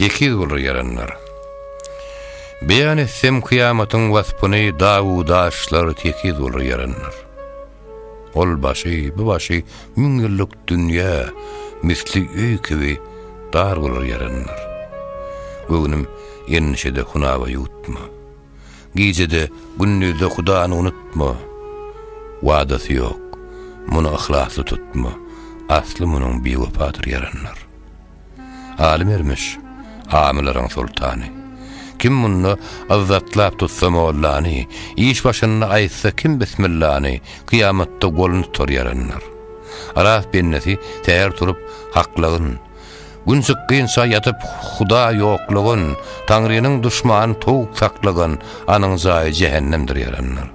Tekiz bolur ýaranlar. Beýan etsem kyýamatyň waspyny dagu daşlar tekiz bolur ýaranlar. Ol başy, bu başy müň ýyllyk dünýä misli öý kibi dar bolur ýaranlar. Göwnüm endişede hunawa ýutma. Gijede gündizde hudany unutma. Wadasy ýok, muny yhlasly tutma. Asly munyň biwepadyr ýaranlar. Aly Mermiş, amylaryň soltany. Kim munda yzzatlap tutsa mollany, iş başynda aýtsa kim bismillany, kyýamatda golun tutar ýaranlar. Yrak bendesi säher turup, haklagyn. Gün çykgynça ýatyp huda ýoklagyn, Taňrynyň duşmany towuk saklagyn, anyň jaýy jähennemdir ýaranlar.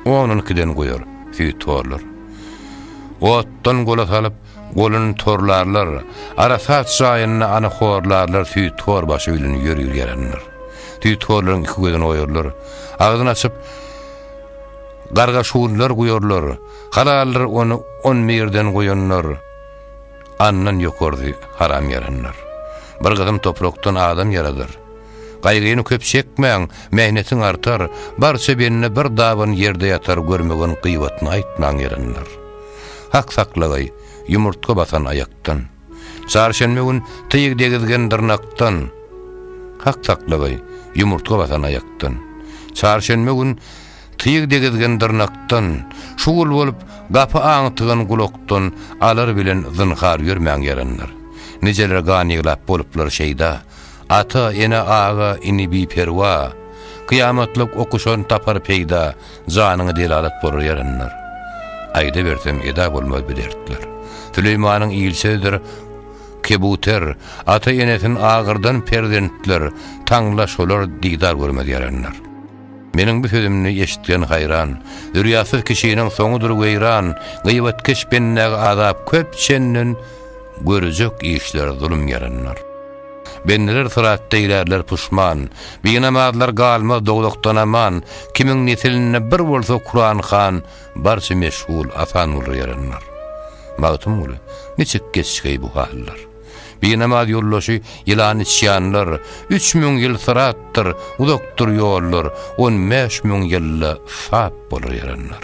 Onuň kiden goýar, süýt torlar. Otdan gola salyp, golun torlarlar, arasat jaýynda ana horlarlar süýt tor başy bilen ýörür ýaranlar. Süýt torlaryň iki gözüni oýarlar, agzyn açyp, garga şuwlar guýarlar, halaldyr ony on birden goýanlar, andan ýokardy haram ýaranlar. Bir gysym toprakdan adam ýaradar. Gaýgyny köp çekmäň, mähnetiň artar, barça bende bir daban ýerde ýatar görmegeň gyýbatyny aýtmaň ýerindr. Hak saklagaý, ýumurtga basan aýakdan. Çarşenbe gün tyg degizgen dyrnakdan. Hak saklagaý, ýumurtga basan aýakdan. Çarşenbe gün tyg degizgen dyrnakdan, şugul bolup gapy aňtygan gulakdan alar bilen zynhar ýörmäň ýerindr. Nijeler gan ýyglap boluplar şeýda. Ata, ene, aga, ini biperwa, Kyýamatlyk okuşan tapar peýda, Janyňy delalat bolar ýaranlar. Aýdaberseň eda bolmaz bu dertler. Süleýmanyň il sözdür, Kebuter, Ata, enesin agyrdan perzentler, Taňla şolar didar görmez ýaranlar. Meniň bu sözümni eşitgen haýran, Zürýatsyz kişiniň soňudyr weýran, Gyýbatkeş bendäge azap köp çenden, Görjek işler zulum ýaranlar. Bendeler syrat deýlärler puşman, Binamazlar galmaz dowzahdan aman, Kimiň nesilinde bir bolsa Kuran han, Barça meşgul asan bolur ýaranlar. Magtymguly, niçik geçgeý bu hallar? Binamaz ýoldaşy ýylan içýanlar, Üç müň ýyl syratdyr, uzakdyr ýollar, On bäş müň ýylda sap bolur ýaranlar.